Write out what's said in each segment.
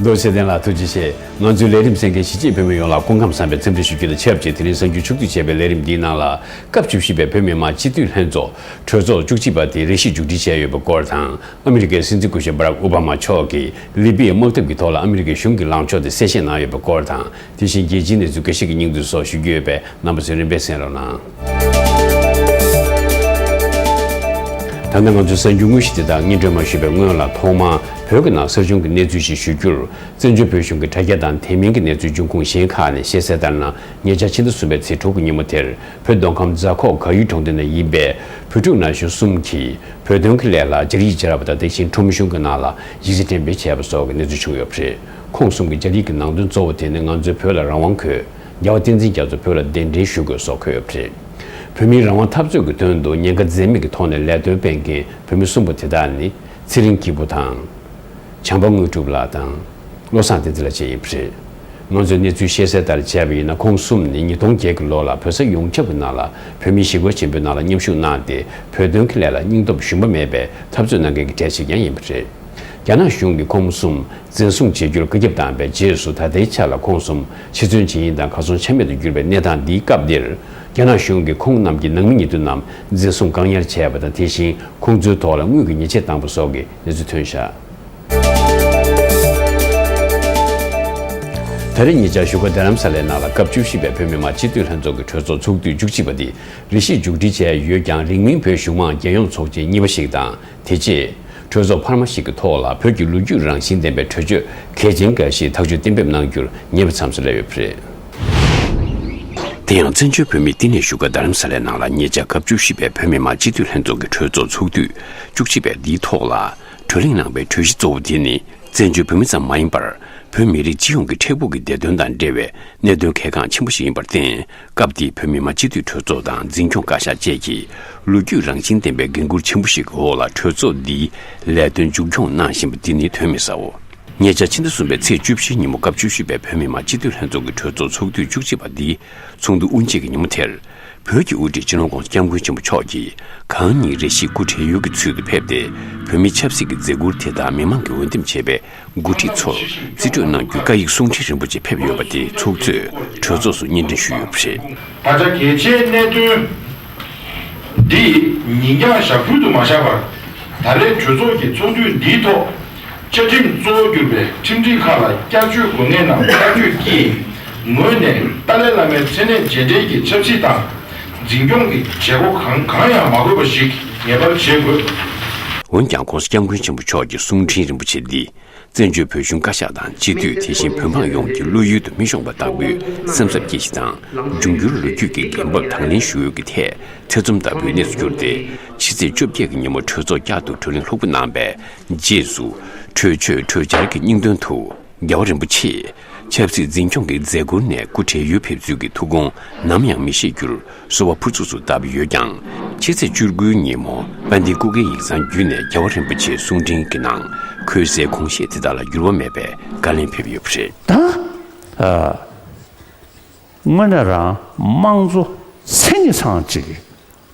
རྡོ་རྗེ་གདན་ལ་ཐུགས་རྗེ་ཆེ། ང་ཚོའི་ལས་རིམ་སེང་གེ་གཞིས་བྱེས་བོད་མི་ཡོངས་ལ་སྐུ་ཁམས་བསམ་པའི་འཚམས་འདྲི་ཞུ་རྒྱུ་དང་ཆབས་ཅིག་དེ་རིང་གསར་འགྱུར་ཕྱོགས་བསྡུས་བྱས་པའི་ལས་རིམ་འདིའི་ནང་ལ་སྐབས་བཅུ་བཞི་པའི་བོད་མི་མང་སྤྱི་འཐུས་ལྷན་ཚོགས་གྲོས་ཚོགས་བཅུ་གཅིག་པ་དེ་རེ་ཞིག་མཇུག་སྒྲིལ་བྱས་ཡོད་པའི་སྐོར་དང་ཨ་མི་རི་ཀའི་སྲིད་འཛིན་སྐུ་ཞབས Barack Obama མཆོག་གིས་ལི་པི་ཡའི་དམག་འཐབ་ཀྱི་ཐོག་ལ་ཨ་མི་རི་ཀའི་གཞུང་གི་ལངས་ཕྱོགས་དེ་གསལ་བཤད་གནང་ཡོད་པའི་སྐོར་དང་དེ་བཞིན་རྒྱལ་སྤྱིའི་གནས་ཚུལ་འགའ་ཞིག་གི་སྙིང་བསྡུས་སོགས་ཞུ་རྒྱུ་ཡོད་པས་རྣམ་པ་ཚོས་རིམ་པས་གསན་རོགས་གནང། ད་ནི་ང་ཚོས་གསར་འགྱུར་དངོས་གཞི་དེ་དག་སྔས་འགྲོལ་མ་ཞུས་པའི་སྔོན་ལ་ཐོག་མར་བོད་ཀྱི་ནང་གསར་བྱུང་གི་གནས་ཚུལ་ཞིག་ཞུ་རྒྱུར། བཙན་བྱོལ་བོད་གཞུང་གི་དྲ་རྒྱ་དང་དེ་མིན་གྱི་གནས་ཚུལ་འབྱུང་ཁུངས་གཞན་ཁག་ནས་ཤེས་གསལ་ལྟར་ན་ཉེ་ཆར་ཕྱི་ཟླ་གསུམ་པའི་ཚེས་དྲུག་གི་ཉིན་མོ་དེར་བོད་མདོ་ཁམས་རྫ་ཁོག་གར་ཡུལ་གྲོང་སྡེ་ན་ཡིན་པའི་བོད་ཕྲུག་ན་གཞོན་གསུམ་གྱིས་བོད་དོན་གྱི་ལས་ལ་སྦྱར་ཡིག་སྦྱར་བ་དང་དེ་བཞིན་ཁྲོམ་གཞུང་གི་ནང་ལ་ཡིག་ཆ་འགྲེམས་སྤེལ་བྱས་པ་སོགས་ཀྱི་གནས་ཚུལ་བྱུང་ཡོད་པ་རེད། ཁོང་གསུམ་གྱི་ལྕགས་རིགས་ཀྱི་ནང་དོན་གཙོ་བོ་དེ་ནི་ང་ཚོའི་བོད་ལ་རང་དབང་དགོས། རྒྱལ་བ་བསྟན་འཛིན་རྒྱ་མཚོ་བོད་ལ་གདན་འདྲེན་ཞུ་དགོས་སོགས་འཁོད་ཡོད་པ་རེད། བོད་མིའི་རང་དབང་འཐབ་རྩོད་ཀྱི་དོན་དུ་ཉེན་ཁ་འཛེམ་མེད་ཀྱི་ཐོག་ནས་ལས་དོན་སྤེལ་མཁན་བོད་མི་གསུམ་པོ་དེ་དག་ནི། ཚེ་རིང་སྐྱིད་པོ་དང། བྱམས་པ་དངོས་གྲུབ་ལགས་དང། བློ་བཟང་བསྟན་འཛིན་ལགས་བཅས་ཡིན་པ་རེད། ང་ཚོས་གནས་ཚུལ་ཤེས་གསལ་ལྟར་དཔྱད་པ་ཡིན་ན་ཁོང་གསུམ་ནི་ཉིས་སྟོང་བརྒྱད་ཀྱི་ལོ་ལ་བོད་ས་ཡོངས་ཁྱབ་ཀྱི་ནང་ལ་བོད་མི་ཞི་རྒོལ་ཆེན་པོའི་ནང་ལ་མཉམ་ཞུགས་གནང་སྟེ་བོད་དོན་གྱི་ལས་ལ་སྙིང་སྟོབས་ཞུམ་པ་མེད་པའི་འཐབ་རྩོད་གནང་མཁན་གྱི་གྲས་ཤིག་ཀྱང་ཡིན་པ་རེད། རྒྱ་ནག་གཞུང་གིས་ཁོང་གསུམ་འཛིན་བཟུང་བྱེད་རྒྱུར་བཀའ་ཁྱབ་བཏང་བའི་རྗེས་སུ་ད་ལྟའི་ཆ་ལ་ཁོང་གསུམ་ཕྱི་བཙོན་བྱེད་ཡིན་དང་གར་སོང་ཆ་མེད་དུ་གྱུར་པའི་གནས་སྟངས་འདིའི་སྐབས་འདིར། རྒྱ་ནག་གཞུང་གིས་ཁོང་རྣམས་ཀྱི་ནང་མི་ཉེ་དུ་རྣམས་འཛིན་བཟུང་བཀག་ཉར་བྱས་པ་དང་དེ་བཞིན་ཁོང་ཚོའི་ཐོག་ལ་དངུལ་གྱི་ཉེས་ཆད་བཏང་པ་སོགས་ཀྱི་གནས་ཚུལ་ཐོན་ཤག། ད་རེས་ཉེ་ཆར་བཞུགས་སྒར་རྡ་རམ་ས་ལའི་ནང་ལ་སྐབས་བཅུ་བཞི་པའི་བོད་མི་མང་སྤྱི་འཐུས་ལྷན་ཚོགས་ཀྱི་གྲོས་ཚོགས་ཚོགས་དུས་བཅུ་གཅིག་པ་དེ་རེ་ཞིག་མཇུག་སྒྲིལ་བྱས་ཡོད་ཀྱང་རིང་མིན་བོད་གཞུང་མང་རྒྱལ་ཡོངས་ཚོགས་ཆེན་གཉིས་པ་ཞིག་དང། དེ་རྗེས། གྲོས་ཚོགས་འཕར་མ་ཞིག་གི་ཐོག་ལ་བོད་ཀྱི་ལོ་རྒྱུས་རང་བཞིན་ལྡན་པའི་གྲོས་ཆོད་གལ་ཆེན་འགའ་ཞིག་ཐག་གཅོད་གཏན་འབེབས་གནང་རྒྱུར་ངེས་པ་མཚམས་སུ་སླེབས་ཡོད་པ་རེད། དེ་ཡང་བཙན་བྱོལ་བོད་མིའི་བསྟི་གནས་བཞུགས་སྒར་རྡ་རམ་ས་ལའི་ནང་ལ་ཉེ་ཆར་སྐབས་བཅུ་བཞི་པའི་བོད་མི་མང་སྤྱི་འཐུས་ལྷན་ཚོགས་ཀྱི་གྲོས་ཚོགས་ཚོགས་དུས་བཅུ་གཅིག་པའི་འདིའི་ཐོག་ལ་གྲོས་གླེང་གནང་པའི་གྲོས་གཞི་གཙོ་བོ་དེ་ནི་བཙན་བྱོལ་བོད་མི་ཙམ་མ་ཡིན་པར་བོད་མི་རིགས་སྤྱི་ཡོངས་ཀྱི་འཕྲལ་ཕུགས་ཀྱི་བདེ་དོན་དང་འབྲེལ་བའི་གནད་དོན་གལ་འགངས་ཆེན་པོ་ཞིག་ཡིན་པར་བརྟེན་སྐབས་དེའི་བོད་མི་མང་སྤྱི་འཐུས་གྲོས་ཚོགས་དང་འཛིན་སྐྱོང་བཀའ་ཤག་བཅས་ཀྱིས་ལོ་རྒྱུས་རང་བཞིན་ལྡན་པའི་འགན་ཁུར་ཆེན་པོ་ཞིག་གི་འོག་ལ་གྲོས་ཚོགས་འདིའི་ལས་དོན་མཇུག་སྐྱོང་གནང་བཞིན་པ་འདི་ནི་དོན་མེད་སའོ། ཉེ་ཆར་ཕྱི་ཟླ་གསུམ་པའི་ཚེས་བཅུ་བཞིའི་ཉིན་མོ་སྐབས་བཅུ་བཞི་པའི་བོད་མི་མང་སྤྱི་འཐུས་ལྷན་ཚོགས་ཀྱི་གྲོས་ཚོགས་ཚོགས་དུས་བཅུ་གཅིག་པ་འདིའི་ཚོགས་འདུ་དབུ་འབྱེད་ཀྱི་ཉིན་མོ་དེར། བོད་ཀྱི་དབུ་ཁྲིད་ཅི་ལོང་གོང་ས་སྐྱབས་མགོན་ཆེན་པོ་མཆོག་གིས་གང་ཉིད་རེ་ཞིག་སྐུ་བགྲེས་ཡོལ་གྱི་ཚུལ་དུ་ཕེབས་ཏེ་བོད་མིའི་ཆབ་སྲིད་ཀྱི་མཛད་ཁུར་དེ་དག་མི་མང་གིས་འོས་འདེམས་བྱས་པའི་འགོ་ཁྲིད་ཚོར་རྩིས་སྤྲོད་གནང་རྒྱུའི་བཀའ་ཡིག་གསུང་འཕྲིན་རིན་པོ་ཆེ་ཕེབས་ཡོད་པ་དེ་ཚོགས་གཙོས་གྲོས་ཚོགས་སུ་སྙན་སྒྲོན་ཞུས་ཡོད་པ་རེད། ད་ཆ་གལ་ཆེའི་གནད་དོན་འདི་ཉིན་རྒྱང་ཞག་ཕུལ་དུ་མ་བཞག་པར་ད་རེས་གྲོས་ཚོགས་ཀྱི་ཚོགས་དུས་འདིའི་ཐོག་བཅའ་ཁྲིམས་གཙོ་བོར་གྱུར་པའི་ཁྲིམས་སྒྲིག་ཁག་ལ་བསྐྱར་བཅོས་དགོས་ངེས་རྣམས་བཀའ་ཆོས་ཀྱིས་ངོས་ནས་ཏཱ་ལའི་བླ་མའི་མཚན་གནས་རྗེས་འབྲེལ་གྱི་ཆབ་སྲིད་དང། འཛིན་སྐྱོང་གི་བྱེད་སྒོ་གང་གང་ཡང་མ་དགོས་པ་ཞིག་ངེས་པར་བྱེད་དགོས། འོན་ཀྱང ྋགོང་ས ྋསྐྱབས་མགོན་ཆེན་པོ་མཆོག་གི་གསུང་འཕྲིན་རིན་པོ་ཆེ་འདི་བཙན་བྱོལ་བོད་གཞུང་བཀའ་ཤག་དང་སྤྱི་འཐུས་དེ་བཞིན་བོད་འབངས་ཡོངས་ཀྱི་བློ་ཡུལ་དུ་མི་ཤོང་པ་ལྟ་བུའི་སེམས་འཚབ་སྐྱེ་གཞི་དང་འབྱུང་འགྱུར་ལོ་རྒྱུས་ཀྱི་འགན་བབས་དང་ལེན་ཞུ་འོས་ཀྱི་ཐད་ཐེ་ཚོམ་ལྟ་བུའི་གནས་སུ་གྱུར་ཏེ་ཕྱི་ཚེས་བཅོ་བརྒྱད་ཀྱི་ཉིན་མོ་གྲོས་ཚོགས་བསྐྱར་དུ་གྲོས་གླེང་ལྷུག་པོ་གནང་པའི་རྗེས་སུ། གྲོས་ཆོད་གྲོས་འཆར་གྱི་སྙིང་དོན་དུ། རྒྱལ་བ་རིན་པོ་ཆེས་ཆབ་སྲིད་འཛིན་སྐྱོང་གི་མཛད་སྒོ་ནས་སྐུ་བགྲེས་ཡོལ་ཕེབས་ཚུལ་གྱི་ཐུགས་དགོངས་ནམ་ཡང་མི་ཤེས་རྒྱུར་གསོལ་བ་ཕུར་ཚུགས་སུ་བཏབ་ཡོད་ཀྱང། ཕྱི་ཚེས་བཅུ་དགུའི་ཉིན་མོ་དཔལ་ལྡན་སྐུ་སྒེར་ཡིག་ཚང་བརྒྱུད་ནས་རྒྱལ་བ་རིན་པོ་ཆེའི་གསུང་འཕྲིན་གྱི་ནང་ཁོའི་སའི་གོང་བཤད་དེ་དག་ལ་འགྱུར་བ་མེད་པའི་བཀའ་ལན་ཕེབས་ཡོད་པ་རེད། དང། དངོས་གནས་རང་དམངས་གཙོ་མཚན་ཉིད་ཚང་གཅིག་གི་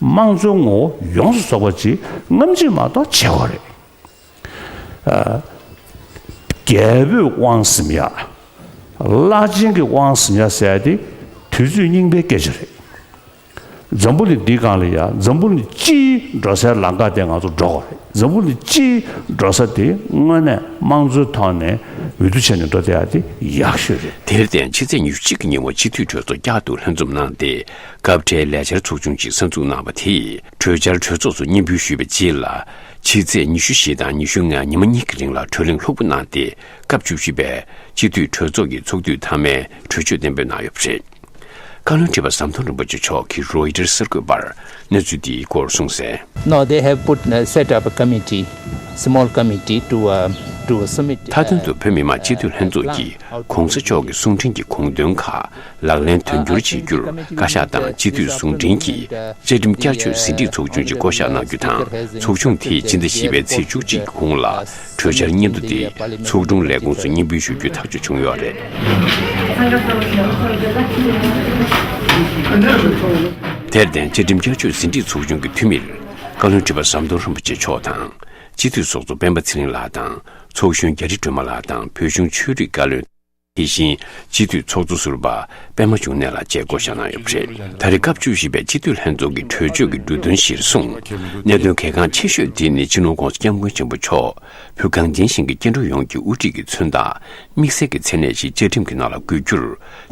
དམངས་གཙོའི་ངོ་བོ་ཡོངས་སུ་རྫོགས་པ་གཅིག་རྔམ་བརྗིད་མ་གཏོགས་བྱས་བ་རེད། རྒྱལ་པོས་དབང་བསམ་ཡག། བླ་ཆེན་གྱིས་དབང་བསམ་ཡག་བསལ་ཏེ་དུས་ཚོད་རྙིང་པའི་སྐད་ཆ་རེད། འཛམ་བུ་ནི་འདི་གང་ལ་ཡག་འཛམ་བུ་ནི་སྤྱིའི་འགྲོ་སའི་ལམ་ཁ་དེ་ང་ཚོ་འགྲོ་དགོས་རེད་འཛམ་བུ་ནི་སྤྱིའི་འགྲོ་ས་དེ་དངོས་གནས་དམངས་གཙོའི་ཐོག་ནས་འོས་བསྡུ་བྱས་ནས་འགྲོ་བསྡད་ཡག་དེ་ཡག་ཤོས་རེད། དེར་བརྟེན་ཕྱི་ཚེས་ཉེར་གཅིག་གི་ཉིན་བ་སྤྱི་འཐུས་གྲོས་ཚོགས་བསྐྱར་དུ་ལྷན་འཛོམས་གནང་སྟེ་སྐབས་འཕྲལ་ལས་འཆར་ཚོགས་ཆུང་གཅིག་གསར་འཛུགས་གནང་བ་དེས་གྲོས་འཆར་གྲོས་ཚོགས་སུ་སྙན་འབུལ་ཞུས་པའི་རྗེས་ལ། ཕྱི་ཚེས་ཉི་ཤུ་བཞི་དང་ཉི་ཤུ་ལྔའི་ཉི་མ་གཉིས་ཀྱི་རིང་ལ་གྲོས་གླེང་ལྷུག་པོ་གནང་སྟེ་སྐབས་བཅུ་བཞི་པའི་སྤྱི་འཐུས་གྲོས་ཚོགས་ཀྱི་ཚོགས་དུས་མཐའ་མའི་གྲོས་ཆོད་གཏན་འབེབས་གནང་ཡོད་པ་རེད། བཀའ་བློན་ཁྲི་པ་ཟམ་གདོང་རིན་པོ་ཆེ་མཆོག་གིས་རོའི་ཏེར་གསར་འགོད་པར་གནས་ཚུལ་འདིའི་སྐོར་གསུངས་གསལ། Now they have put set up a committee, small committee to submit the མཐའ་དོན་དུ་བོད་མི་མང་སྤྱི་འཐུས་ལྷན་ཚོགས་ཀྱིས་གོང་ས་མཆོག་གི་གསུང་འཕྲིན་གྱི་དགོངས་དོན་ཁག་ལག་ལེན་དོན་འཁྱོལ་བྱེད་རྒྱུར་བཀའ་ཤག་དང་སྤྱི་འཐུས་ཟུང་འབྲེལ་གྱིས་བཅའ་ཁྲིམས་བསྐྱར་བཅོས་ཟིན་བྲིས་ཚོགས་ཆུང་གཅིག་བསྐོ་བཞག་གནང་རྒྱུ་དང་ཚོགས་ཆུང་དེས་སྤྱི་ཟླ་བཞི་པའི་ཚེས་བཅུ་གཅིག་གི་གུང་ལ་གྲོས་འཆར་སྙན་ཐོ་དེ་ཚོགས་དྲུང་ལས་ཁུངས་སུ་སྙན་འབུལ་ཞུ་རྒྱུའི་ཐག་གཅོད་བྱུང་ཡོད་རེད། དེར་བརྟེན་བཅའ་ཁྲིམས་བསྐྱར་བཅོས་ཟིན་བྲིས་ཚོགས་ཆུང་གི་འཐུས་མིར་བཀའ་བློན་ཁྲི་པ་ཟམ་གདོང་རིན་པོ་ཆེ་མཆོག་དང་སྤྱི་འཐུས་ཚོགས་གཙོ་སྤེན་པ་ཚེ་རིང་ལགས་དང་ཚོགས་གཞོན་རྒྱ་རི་སྒྲོལ་མ་ལགས་དང་བོད་གཞུང་ཆོས་རིག་བཀའ་བློན། དེ་བཞིན་སྤྱི་འཐུས་ཚོགས་གཙོ་ཟུར་པ་པད་མ་འབྱུང་གནས་ལགས་བཅས་བསྐོ་བཞག་གནང་ཡོད་པ་རེད། ད་རེས་སྐབས་བཅུ་བཞི་པའི་སྤྱི་འཐུས་ལྷན་ཚོགས་ཀྱི་གྲོས་ཆོད་ཀྱི་འབྲུ་དོན་གཞིར་བཟུང། གནད་དོན་གལ་འགངས་ཆེ་ཤོས་དེ་ནི་ཕྱི་ནང་ཀུང་སི་སྐྱབས་མགོན་ཆེན་པོ་མཆོག་ཕུད་གངས་ཅན་ཞིང་གི་སྐྱེ་འགྲོ་ཡོངས་ཀྱི་དབུ་ཁྲིད་ཀྱི་མཚོན་རྟགས་དམིགས་བསལ་གྱི་མཚན་གནས་ཤིག་བཅའ་ཁྲིམས་ཀྱི་ནང་ལ་འགོད་རྒྱུར་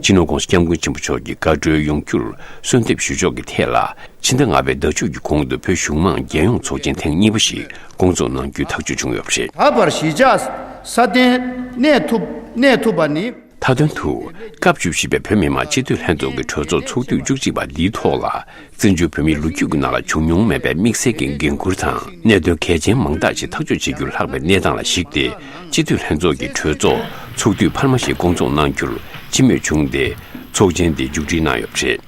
ཕྱི་ནང་ཀུང་སི་སྐྱབས་མགོན་ཆེན་པོ་མཆོག་གི་བཀའ་འཁྲོལ་ཡོང་རྒྱུར་གསོལ་འདེབས་ཞུ་ཕྱོགས་ཀྱི་ཐད་ལ་ཕྱི་ཟླ་ལྔ་པའི་ཟླ་མཇུག་གི་གོང་དུ་བོད་གཞུང་མང་རྒྱལ་ཡོངས་ཚོགས་ཆེན་ཐེངས་གཉིས་པ་ཞིག་སྐོང་ཚོགས་གནང་རྒྱུའི་ཐག་གཅོད་བྱུང་ཡོད་པ་རེད། ད་བར་གཞིས་ཆགས་སྲ་བརྟན་གནས་ཐུབ་གནས་ཐུབ་པ་ནི། མཐའ་དོན་དུ། སྐབས་བཅུ་བཞི་པའི་བོད་མི་མང་སྤྱི་འཐུས་ལྷན་ཚོགས་ཀྱི་གྲོས་ཚོགས་ཚོགས་དུས་བཅུ་གཅིག་པ་འདིའི་ཐོག་ལ་བཙན་བྱོལ་བོད་མིའི་ལོ་རྒྱུས་ཀྱི་ནང་ལ་བྱུང་མྱོང་མེད་པའི་དམིགས་བསལ་གྱི་འགན་ཁུར་དང་གནད་དོན་གལ་ཆེན་མང་དག་ཅིག་ཐག་གཅོད་བྱེད་རྒྱུར་ལྷག་པའི་གནས་སྟངས་ལ་གཞིགས་ཏེ་སྤྱི་འཐུས་ལྷན་ཚོགས་ཀྱི་གྲོས་ཚོགས་ཚོགས་དུས་འཕར་མ་ཞིག་སྐོང་ཚོགས་གནང་རྒྱུར་སྤྱི་མོས་བྱུང་སྟེ་ཚོགས་ཆེན་འདི་མཇུག་སྒྲིལ་གནང་ཡོད་པ་རེད།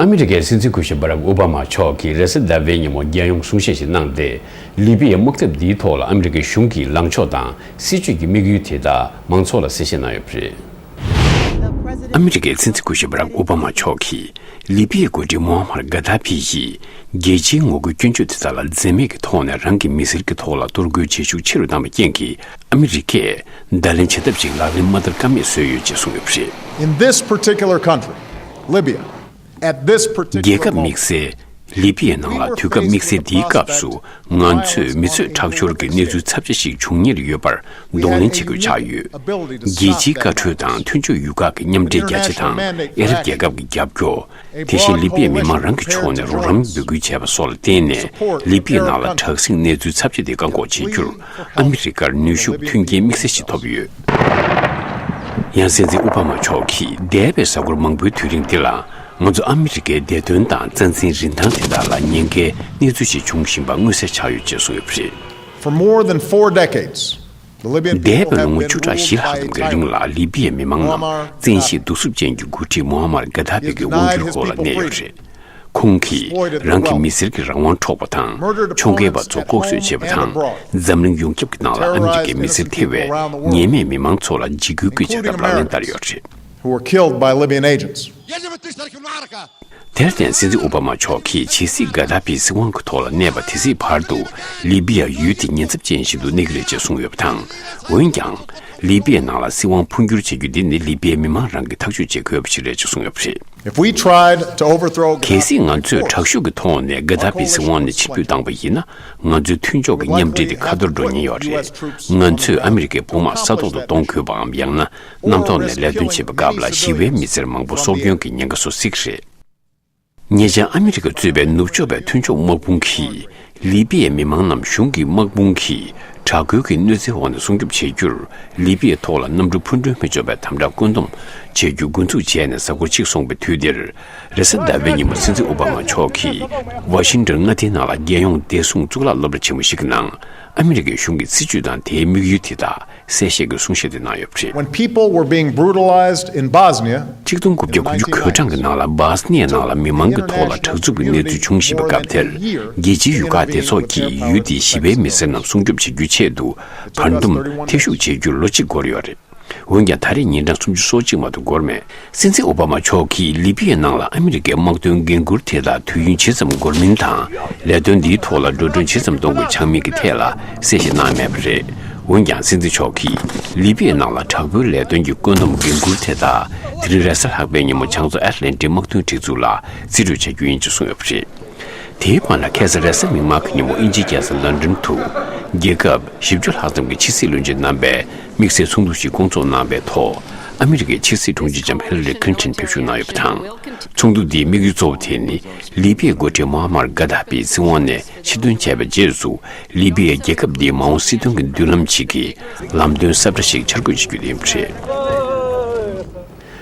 ཨ་མི་རི་ཀའི་སྲིད་འཛིན་སྐུ་ཞབས Barack Obama མཆོག་གིས་རེས་གཟའ་ཟླ་བའི་ཉིན་མོ་རྒྱལ་ཡོངས་གསུང་བཤད་ཞིག་གནང་སྟེ། ལི་པི་ཡའི་དམག་འཐབ་འདིའི་ཐོག་ལ་ཨ་མི་རི་ཀའི་གཞུང་གི་ལངས་ཕྱོགས་དང་སྲིད་བྱུས་ཀྱི་དམིགས་ཡུལ་དེ་དག་མང་ཚོགས་ལ་གསལ་བཤད་གནང་ཡོད་པ་རེད། ཨ་མི་རི་ཀའི་སྲིད་འཛིན་སྐུ་ཞབས Barack Obama མཆོག་གིས་ལི་པི་ཡའི་མགོ་ཁྲིད Moammar Gadhafi ཡིས་རྒྱལ་སྤྱིའི་ངོ་རྒོལ་སྐྱོན་བརྗོད་དེ་དག་ལ་འཛེམ་མེད་ཀྱི་ཐོག་ནས་རང་གི་མི་སེར་གྱི་ཐོག་ལ་གཏོར་རྒོལ་བྱེད་ཤུགས་ཆེ་རུ་བཏང་བའི་རྐྱེན་གྱིས་ཨ་མི་རི་ཀས་བརྡ་ལན་བྱེད་ཐབས་ཤིག་ལག་ལེན་མ་བསྟར་ཀ་མེད་བཟོས་ཡོད་ཅེས་གསུངས་ཡོད་པ་རེད། རྒྱལ་ཁབ་དམིགས་བསལ། ལི་པི་ཡའི་ནང་ལ་དུས་སྐབས་དམིགས་བསལ་འདིའི་སྐབས་སུ་ང་ཚོས་མི་ཚོས་ཁྲག་སྦྱོར་གྱི་གནས་ཚུལ་ཚབས་ཆེ་ཞིག་འབྱུང་ཉེར་ཡོད་པར་གདོང་ལེན་བྱེད་དགོས་ཆགས་ཡོད། རྒྱལ་སྤྱིའི་བཀའ་འཁྲོལ་དང་མཐུན་ཕྱོགས་ཡུལ་ཁག་གི་མཉམ་འབྲེལ་རྒྱ་ཆེ་དང་ཨེ་རབ་རྒྱལ་ཁབ་ཀྱི་རྒྱབ་སྐྱོར། དེ་བཞིན་ལི་པེའི་མི་མང་རང་གི་ཕྱོགས་ནས་རོགས་རམ་འབོད་སྐུལ་བྱས་པ་སོགས་ལ་བརྟེན་ནས་ལི་པེའི་ནང་ལ་དྲག་ཟིང་གནས་ཚུལ་ཚབས་ཆེ་དེ་བཀག་འགོག་བྱེད་རྒྱུར་ཨ་མི་རི་ཀར་ནུས་ཤུགས་མཐུན་རྐྱེན་དམིགས་བསལ་ཞིག་ཐོབ་ཡོད། ཡང་སྲིད་འཛིན་ཨོ་བྷ་མ་མཆོག་གིས་འདས་པའི་གཟའ་འཁོར་མང་པོའི་དུས་རིང་འདི་ལ་ང་ཚོ་ཨ་མི་རི་ཀའི་བདེ་དོན་དང་རྩ་འཛིན་རིན་ཐང་དེ་དག་ལ་ཉེན་ཁའི་གནས་ཚུལ་ཞིག་འབྱུང་བཞིན་པ་མངོན་གསལ་ཆགས་ཡོད་ཅེས་གསུངས་ཡོད་པ་རེད། འདས་པའི་ལོ་ངོ་བཅུ་ཕྲག་བཞི་ལྷག་གི་འགལ་རིང་ལ་ལི་བྷི་ཡའི་མི་མང་རྣམས་བཙན་ཤེད་གདུག་རྩུབ་ཅན་གྱི་འགོ་ཁྲིད་མུ་ཧ་མར་གྷ་དྷ་བྷི་གི་དབང་སྒྱུར་སྐོར་ལ་གནས་ཡོད་རེད། ཁོང་གིས་རང་གི་མི་སེར་གྱི་རང་དབང་འཕྲོག་པ་དང་ཕྱོགས་འགལ་བ་ཚོ་ལྐོག་གསོད་བྱས་པ་དང་འཛམ་གླིང་ཡོངས་ཁྱབ་ཀྱི་ནང་ལ་ཨ་མི་རི་ཀའི་མི་སེར་ཐེ་བའི་ཉེས་མེད་མི་མང་ཚོ་ལ་འཇིགས་སྐུལ་གྱི་བྱ་ཐབས་ལག་ལེན་བསྟར་ཡོད་རེད། དེར་བརྟེན་སྲིད་འཛིན་ཨོ་བྷ་མ་མཆོག་གིས་ཇི་སྲིད་གྷ་དྷ་པིའི་སྲིད་དབང་གི་ཐོག་ལ་གནས་པ་དེ་སྲིད་བར་དུ་ལི་པི་ཡ་ཡུལ་དེ་ཉེན་ཚབས་ཅན་ཞིག་ཏུ་གནས་ཀྱི་རེད་ཅེས་གསུངས་ཡོད་པ་དང། འོན་ཀྱང། ལི་པི་ཡའི་ནང་ལ་སྲིད་དབང་འཕོ་འགྱུར་བྱེད་རྒྱུ་འདི་ནི་ལི་པི་ཡའི་མི་མང་རང་གིས་ཐག་གཅོད་བྱེད་དགོས་པ་ཞིག་རེད་ཅེས་གསུངས་ཡོད་པ་རེད། གལ་སྲིད་ང་ཚོས་དྲག་ཤུགས་ཀྱི་ཐོག་ནས་གྷ་དྷ་པིའི་སྲིད་དབང་ནས་ཕྱིར་ཕུད་བཏང་བ་ཡིན་ན་ང་ཚོའི་མཐུན་ཕྱོགས་ཀྱི་མཉམ་འབྲེལ་དེ་ཁ་ཐོར་འགྲོ་ཉེན་ཡོད་རེད། ང་ཚོས་ཨ་མི་རི་ཀའི་དཔུང་དམག་ས་ཐོག་ཏུ་གཏོང་དགོས་པའམ་ཡང་ན་གནམ་ཐོག་ནས་ལས་དོན་བྱེད་པའི་སྐབས་ལ་ཞི་བའི་མི་སེར་མང་པོ་སྲོག་སྐྱོན་གྱི་ཉེན་ཁ་བཟོ་སྲིད་རེད། ཉེ་ཆར་ཨ་མི་རི་ཀ་གཙོས་པའི་ནུབ་ཕྱོགས་པའི་མཐུན་ཕྱོགས་དམག་དཔུང་གིས་ལི་པི་ཡའི་མི་མང་རྣམས་གཞུང་གི་དམག་དཔུང་གིས་དྲག་རྒོལ་གྱི་གནོད་འཚེའི་འོག་ནས་སྲུང་སྐྱོབ་བྱེད་རྒྱུར་ལི་པི་ཡའི་ཐོག་ལ་གནམ་གྲུ་འཕུར་མགྲོན་མི་འཇོག་པའི་དམ་དྲག་བཀོད་འདོམས་བྱེད་རྒྱུ་འགོ་འཛུགས་བྱས་ནས་གཟའ་འཁོར་གཅིག་སོང་པའི་དུས་འདིར། རེས་གཟའ་ཟླ་བའི་ཉིན་མོ་སྲིད་འཛིན་ཨོ་བྷ་མ་མཆོག་གིས་ཝ་ཤིང་ཏོན་མངའ་སྡེའི་ནང་ལ་རྒྱལ་ཡོངས་བདེ་སྲུང་གཙུག་ལག་སློབ་གྲྭ་ཆེན་མོ་ཞིག་གི་ནང་ཨ་མི་རི་ཀའི་གཞུང་གི་སྲིད་ཇུས་དང་དེའི་དམིགས་ཡུལ་དེ་དག་གསལ་བཤད་ཀྱི་གསུང་བཤད་དེ་གནང་ཡོད་པ་རེད། When people were being brutalized in Bosnia in གཅིག་སྟོང་དགུ་བརྒྱ་དགུ་ཅུ་གོས་གྲངས་ཀྱི་ནང་ལ་སྦཱས་ནེའི་ནང་ལ་མི་མང་གི་ཐོག་ལ་དྲག་རྩུབ་ཀྱི་གནས་ཚུལ་བྱུང་བཞིན་པའི་སྐབས་དེར་རྒྱལ་སྤྱིའི་ཡུལ་ཁག་སྡེ་ཚོགས་ཀྱིས་ཡུལ་དེའི་ཞི་བའི་མི་སེར་རྣམས་སྲུང་སྐྱོབ་བྱེད་རྒྱུའི་ཆེད་དུ་བར་འདུམ་ཐེ་ཞུགས་བྱེད་རྒྱུར་ལོ་གཅིག་འགོར་ཡོད་རེད། འོན་ཀྱང་ད་རེས་ཉིན་གྲངས་སུམ་ཅུ་སོ་གཅིག་མ་གཏོགས་འགོར་མེད། སྲིད་འཛིན་ཨོ་བྷ་མ་མཆོག་གིས་ལི་པི་ཡའི་ནང་ལ་ཨ་མི་རི་ཀའི་དམག་དོན་འགན་ཁུར་དེ་དག་དུས་ཡུན་ཇི་ཙམ་འགོར་མིན་དང་ལས་དོན་འདིའི་ཐོག་ལ་འགྲོ་གྲོན་ཇི་ཙམ་གཏོང་དགོས་ཆགས་མིན་གྱི་ཐད་ལ་གསལ་བཤད་གནང་མེད་པ་རེད། འོན་ཀྱང་སྲིད་འཛིན་མཆོག་གིས་ལི་པི་ཡའི་ནང་ལ་དྲག་པོའི་ལས་དོན་གྱི་བཀོད་འདོམས་འགན་ཁུར་དེ་དག་དེ་རིང་རེས་གཟའ་ལྷག་པའི་ཉིན་མོ་བྱང་མཚོ་ཨེར་ལན་ཏི་དམག་དོན་སྒྲིག་འཛུགས་ལ་རྩིས་སྤྲོད་བྱ་རྒྱུ་ཡིན་ཅེས་གསུངས་ཡོད་པ་རེད། དེའི་དབང་ལ་ཁེ་སི་རེས་གཟའ་མིག་དམར་གྱི་ཉིན་མོ་དབྱིན་ཇིའི་རྒྱལ་ས་ལན་ཀྲོན་དུ་རྒྱལ་ཁབ་བཞི་བཅུ་ལྷག་ཙམ་གྱི་ཕྱི་སྲིད་བློན་ཆེན་རྣམ་པས་དམིགས་བསལ་ཚོགས་འདུ་ཞིག་སྐོང་འཚོགས་གནང་བའི་ཐོག་ཨ་མི་རི་ཀའི་ཕྱི་སྲིད་དྲུང་ཆེ་ལྕམ་ཧེ་ལ་རི་ཁླིན་ཐན་ཕེབས་བཞུགས་གནང་ཡོད་པ་དང། ཚོགས་འདུ་འདིའི་དམིགས་ཡུལ་གཙོ་བོ་དེ་ནི་ལི་པི་ཡའི་མགོ་ཁྲིད་མོ་ཨ་མར་གྷ་དྷ་པིའི་སྲིད་དབང་ནས་ཕྱིར་འདོན་བྱས་པའི་རྗེས་སུ་ལི་པི་ཡའི་རྒྱལ་ཁབ་འདིའི་མ་འོངས་སྲིད་དོན་གྱི་མདུན་ལམ་ཞིག་གི་ལམ་སྟོན་གསར་པ་ཞིག་འཆར་འགོད་བྱེད་རྒྱུ་དེ་ཡིན་པ་རེད།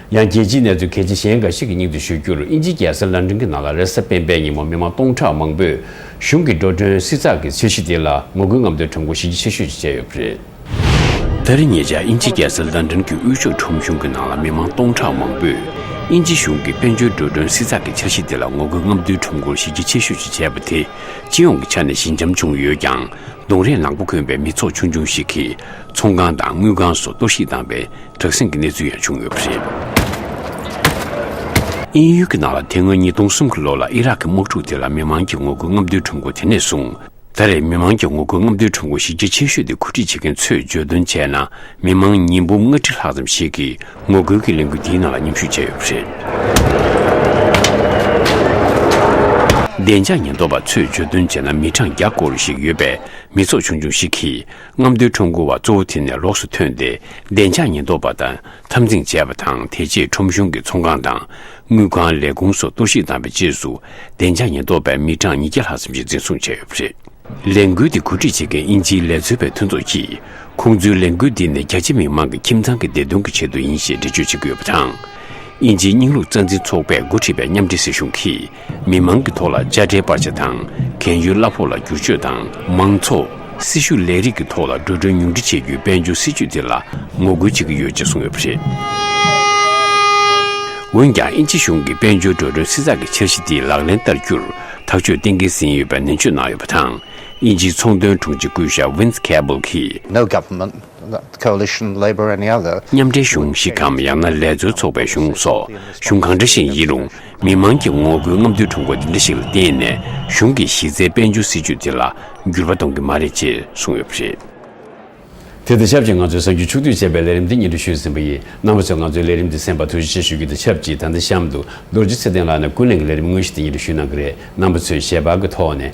ཡང་རྒྱལ་སྤྱིའི་གནས་ཚུལ་གལ་ཆེ་གཞན་འགའ་ཞིག་གི་སྙིང་དུ་ཞུ་རྒྱུར་དབྱིན་ཇིའི་རྒྱལ་སར་ལན་ཀྲིན་གྱི་ནང་ལ་རེས་གཟའ་སྤེན་པའི་ཉིན་མོ་མི་མང་སྟོང་ཕྲག་མང་པོས་གཞུང་གི་འགྲོ་གྲོན་བསྲི་ཚགས་ཀྱི་ཚད་གཞི་དེ་ལ་ངོ་རྒོལ་རྔམ་སྟོན་གྲངས་འགོ་ཞི་རྒྱ་ཆེ་ཤོས་ཤིག་བྱས་ཡོད་པ་རེད། ད་རེས་ཉེ་ཆར་དབྱིན་ཇི་རྒྱལ་སར་ལཱན་ཏོན་གྱི་དབུས་ཕྱོགས་ཁྲོམ་གཞུང་གི་ནང་ལ་མི་མང་སྟོང་ཕྲག་མང་པོས་དབྱིན་ཇི་གཞུང་གི་དཔལ་འབྱོར་འགྲོ་གྲོན་བསྲི་ཚགས་ཀྱི་འཆར་གཞི་དེ་ལ་ངོ་རྒོལ་རྔམ་སྟོན་ཁྲོམ་སྐོར་གཞི་རྒྱ་ཆེ་ཤོས་ཤིག་བྱས་པ་དེ་སྤྱི་ཡོངས་ཀྱི་ཆ་ནས་ཞི་འཇམ་བྱུང་ཡོད་ཀྱང་གདོང་རས་ནག་པོ་གོན་པའི་མི་ཚོགས་ཆུང་ཆུང་ཞིག་གིས་ཚོང་ཁང་དང་དངུལ་ཁང་སོགས་གཏོར་བཤིག་བཏང་པའི་དྲག་ཟིང་གི་གནས་ཚུལ་ཡང་བྱུང་ཡོད་པ་རེད། དབྱིན་ཡུལ་གྱི་ནང་ལ་དེ་སྔོན་ཉིས་སྟོང་གསུམ་གྱི་ལོ་ལ་ཨི་རག་གི་དམག་འཁྲུག་དེ་ལ་མི་མང་གིས་ངོ་རྒོལ་རྔམ་སྟོན་ཁྲོམ་སྐོར་དེ་ནས་བཟུང། ད་རེས་མི་མང་གི་ངོ་རྒོལ་རྔམ་སྟོན་ཁྲོམ་སྐོར་གཞི་རྒྱ་ཆེ་ཤོས་དེ་གོ་སྒྲིག་བྱེད་མཁན་ཚོས་བརྗོད་དོན་བྱས་ན་མི་མང་ཉིས་འབུམ་ལྔ་ཁྲི་ལྷག་ཙམ་ཞིག་གིས་ངོ་རྒོལ་གྱི་ལས་འགུལ་འདིའི་ནང་ལ་མཉམ་ཞུགས་བྱས་ཡོད་པ་རེད། བདེ་འཇགས་ཉེན་རྟོག་པ་ཚོས་བརྗོད་དོན་བྱས་ན་མི་གྲངས་བརྒྱ་སྐོར་ཞིག་ཡོད་པའི་མི་ཚོགས་ཆུང་ཆུང་ཞིག་གིས་རྔམ་སྟོན་ཁྲོམ་སྐོར་བ་གཙོ་བོ་དེ་ནས་ལོགས་སུ་ཐོན་ཏེ་བདེ་འཇགས་ཉེན་རྟོག་པ་དང་འཐབ་འཛིང་བྱས་པ་དང་དེ་རྗེས་ཁྲོམ་གཞུང་གི་ཚོང་ཁང་དང་དངུལ་ཁང་ལས་ཁུངས་སོགས་གཏོར་བཤིག་བཏང་བའི་རྗེས་སུ་བདེ་འཇགས་ཉེན་རྟོག་པས་མི་གྲངས་ཉིས་བརྒྱ་ལྷག་ཙམ་གྱི་འཛིན་བཟུང་བྱས་ཡོད་པ་རེད། ལས་འགུལ་འདི་གོ་སྒྲིག་བྱེད་མཁན་དབྱིན་ཇིའི་ལས་འཚོལ་བའི་མཐུན་ཚོགས་ཀྱིས་ཁོང་ཚོའི་ལས་འགུལ་འདི་ནི་རྒྱ་ཆེ་མི་མང་གི་ཁྱིམ་ཚང་གི་བདེ་དོན་གྱི་ཆེད་དུ་ཡིན་ཞེས་འགྲེལ་བརྗོད་བྱེད་ཀྱི་ཡོད་པ་དང། དབྱིན་ཇིའི་རྙིང་ལུགས་རྩ་འཛིན་ཚོགས་པས་འགོ་ཁྲིད་པའི་མཉམ་འབྲེལ་སྲིད་གཞུང་གིས་མི་མང་གི་ཐོག་ལ་དཔྱ་ཁྲལ་སྤར་ཆ་དང་གན་ཡོལ་གླ་ཕོགས་ལ་བསྒྱུར་བཅོས་དང་མང་ཚོགས། སྲིད་ཞུགས་ལས་རིགས་ཀྱི་ཐོག་ལ་འགྲོ་གྲོན་ཉུང་འཕྲི་བྱེད་རྒྱུའི་དཔལ་འབྱོར་སྲིད་ཇུས་དེ་ལ་ངོ་རྒོལ་བྱེད་ཀྱི་ཡོད་ཅེས་གསུངས་ཡོད་པ་རེད། འོན་ཀྱང་དབྱིན་ཇི་གཞུང་གིས་དཔལ་འབྱོར་འགྲོ་གྲོན་བསྲི་ཚགས་ཀྱི་འཆར་གཞི་དེ་ལག་ལེན་བསྟར་རྒྱུར་ཐག་གཅོད་གཏན་འཁེལ་ཟིན་ཡོད་པའི་ནན་བརྗོད་གནང་ཡོད་པ་དང། དབྱིན་ཇིའི་ཚོང་དོན་དྲུང་ཆེ་སྐུ་ཞབས Vince Cable གྱིས། Coalition Labour and other། མཉམ་འབྲེལ་གཞུང་ཞིག་གམ་ཡང་ན་ལས་འཛོལ་ཚོགས་པའི་གཞུང་སོགས་གཞུང་གང་འདྲ་ཞིག་ཡིན་རུང་མི་མང་གི་ངོ་རྒོལ་རྔམ་སྟོན་ཁྲོམ་སྐོར་འདི་འདྲ་ཞིག་ལ་བརྟེན་ནས་གཞུང་གི་གཞི་རྩའི་དཔལ་འབྱོར་སྲིད་ཇུས་དེ་ལ་འགྱུར་བ་གཏོང་གི་མ་རེད་ཅེས་གསུངས་ཡོད་པ་རེད། དེ་དང་ཆབས་ཅིག་ང་ཚོས་གསར་འགྱུར་ཕྱོགས་བསྡུས་བྱས་པའི་ལས་རིམ་དེ་ཉིན་ཁྲི་ཞུས་ཟིན་པ་ཡིན། རྣམ་པ་ཚོས་ང་ཚོའི་ལས་རིམ་འདི་གསན་པར་ཐུགས་རྗེ་ཆེ་ཞུ་རྒྱུ་དང་ཆབས་ཅིག་ད་ལྟ་གཤམ་དུ་རྡོ་རྗེ་ཚེ་བརྟན་ལགས་ནས་ཀུན་གླེང་གི་ལས་རིམ་དངོས་གཞི་དེ་ཉིན་ཁྲི་ཞུས་གནང་གི་རེད་རྣམ་པ་ཚོས་ཞལ་པར་གྱི་ཐོག་ནས